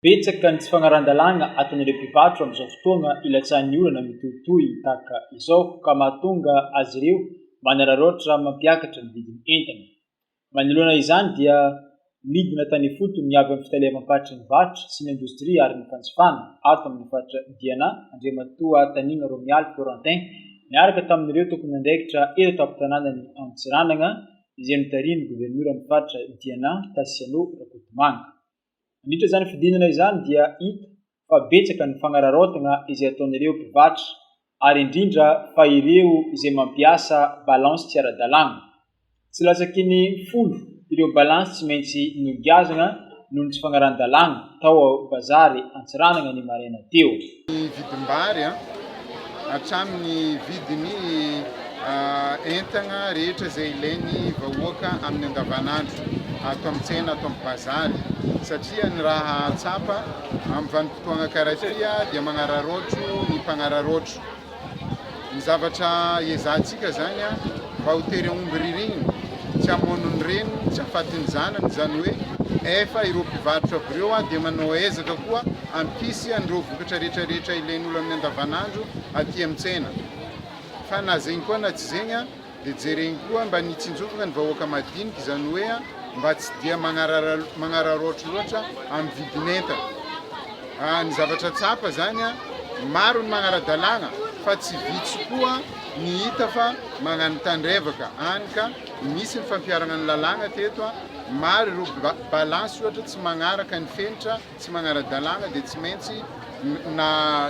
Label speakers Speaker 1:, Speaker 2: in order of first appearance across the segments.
Speaker 1: Betsaka ny tsy fagnaran-dalàgna ataon'ireo mpivarotra amin'izao fotoagna ilatsahan'ny olana mitohitohy tahaka izao ka mahatonga azy ireo manararaotra mampiakatra ny vidin'ny entana. Manoloana izany dia nidina tany ifotony ny avy amin'ny fitaleavam-paritry ny varotra sy ny indostria ary ny fanjifana ato amin'ny faritra Diana, Andriamatoa Tanigna Romialy Florentin niaraka tamin'ireo tompon'andraikitra eto an-tampon-tanànan'i Antsiranana izay notarihin'ny governoran'ny faritra Diana Tasiano Rakotomanga. Nandritra izany fidinana izany dia hita fa betsaka ny fanararaotana izay ataon'ireo mpivarotra ary indrindra fa ireo izay mampiasa balance tsy ara-dalàna. Tsy latsaky ny folo ireo balance tsy maintsy nogiazana noho ny tsy fanarahan-dalàna tao Bazary Antsiranana ny maraina teo. ny vidim-bary
Speaker 2: hatramin'ny vidin'ny entana rehetra izay ilain'ny vahoaka amin'ny andavanandro ato amin'ny tsena, ato amin'ny bazary satria ny raha tsapa amin'ny vanim-potoana karaha ity dia manararaotro ny mpanararaotro. Ny zavatra iezahantsika izany mba ho tery aomby ririnina, tsy hamono ny reniny, tsy hahafaty ny zanany, izany hoe efa ireo mpivarotra avy ireo dia manao ezaka koa hampisy an'ireo vokatra rehetra rehetra ilain'olona amin'ny andavanandro aty amin'ny tsena. Fa na zegny koa na tsy zegny, Dia jereny koa mba ny hitsinjovana ny vahoaka madinika, izany hoe mba tsy dia magnararaotra loatra amin'ny vidin'entana. Ny zavatra tsapa izany, maro ny magnara-dalàna fa tsy vitsy koa ny hita fa magnano tandrevaka any ka misy ny fampiharana ny lalàna teto, maro ireo balansy ohatra tsy magnaraka ny fenitra, Tsy manara-dalàna dia tsy maintsy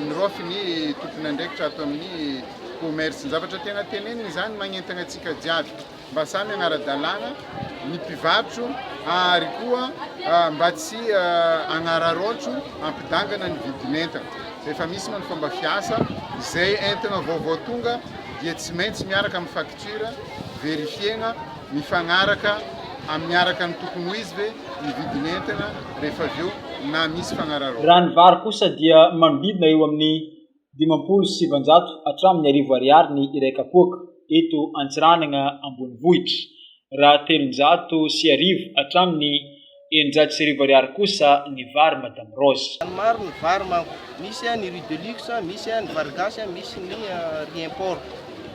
Speaker 2: niraofy ny tompon'andraikitra ato amin'ny Commerce. Ny zavatra tena teneniny izany, magnentana antsika jiaby mba samy hanara-dalàna ny mpivarotro ary koa mba tsy hanararaotro hampidangana ny vidin'entana. Rehefa misy moa ny fomba fiasa, izay entana vaovao tonga dia tsy maintsy miaraka amin'ny facture verifier-na Mifagnaraka amin'ny araka ny tokony ho izy ve ny vidin'entana rehefa avy eo na misy fagnararaoana? Raha ny vary kosa
Speaker 1: dia manodidina eo amin'ny dimampolo sy sivanjato hatramin'ny arivo ariary ny iray kapoaka eto Antsiranana ambonivohitra, raha telonjato sy arivo hatramin'ny eninjato sy arivo ariary kosa ny vary madame Rose. Ny maro ny vary manko,
Speaker 3: misy an ny riz de luxe, misy an ny vary gasy an, misy ny riz import.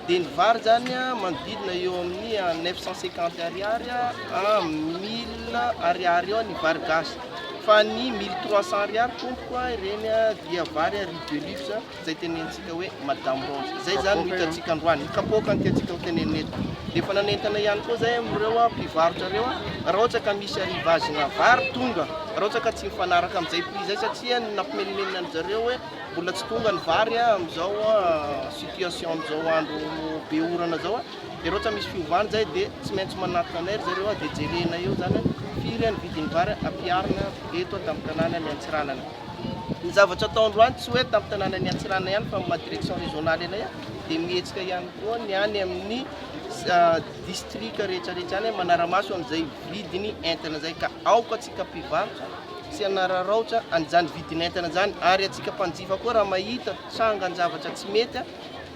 Speaker 3: Dia ny vary zany an manodidina eo amin'ny an neuf cent cinquante ariary an mille ariary eo ny vary gasy. Fa ny mille trois cent ariary tompoko an ireny dia vary an riz de luxe. Izay tenenitsika hoe madame Rose izay izany no hitantsika androany, ny kapoaka no tiantsika ho tenenina eto. Dia efa nanentana ihany koa izay amin'ireo mpivarotra ireo, raha ohatra ka misy arrivage-na vary tonga, raha ohatra ka tsy mifanaraka amin'izay prix izay, satria nampimenomenona an-dry zareo hoe mbola tsy tonga ny vary amin'izao situation amin'izao andro be orana izao, dia raha ohatra misy fiovana izay dia tsy maintsy manatona anay ry zareo, dia jerena eo izany hoe firy ny vidin'ny vary ampiharina eto an-tampon-tanàna ny Antsiranana. Ny zavatra ataony roany tsy hoe tamin'ny tanànan'i Antsiranana ihany fa maha direction régionale anay aho dia mihetsika ihany koa ny any amin'ny distrika rehetrarehetra any manara-maso an'izay vidiny entana izay ka aoka antsika mpivarotra tsy hanararaotra an'izany vidiny entana izany ary antsika mpanjifa koa raha mahita trangan-javatra tsy mety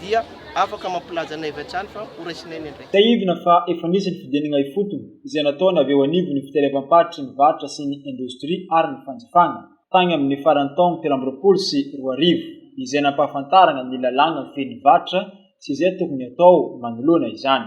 Speaker 3: dia afaka mampilaza anay avy hatrany fa horaisinay ny andraikitra. Tsiahivina fa efa
Speaker 1: nisy ny fidianana ifotony izay nataony avy eo anivon'ny fitelevam-paritry ny varotra sy ny indostria ary ny fanjifana, tany amin'ny faran'ny taona telo amby roapolo sy roa arivo, izay nampahafantarana ny lalàna mifehy ny varotra sy izay tokony hatao manoloana izany.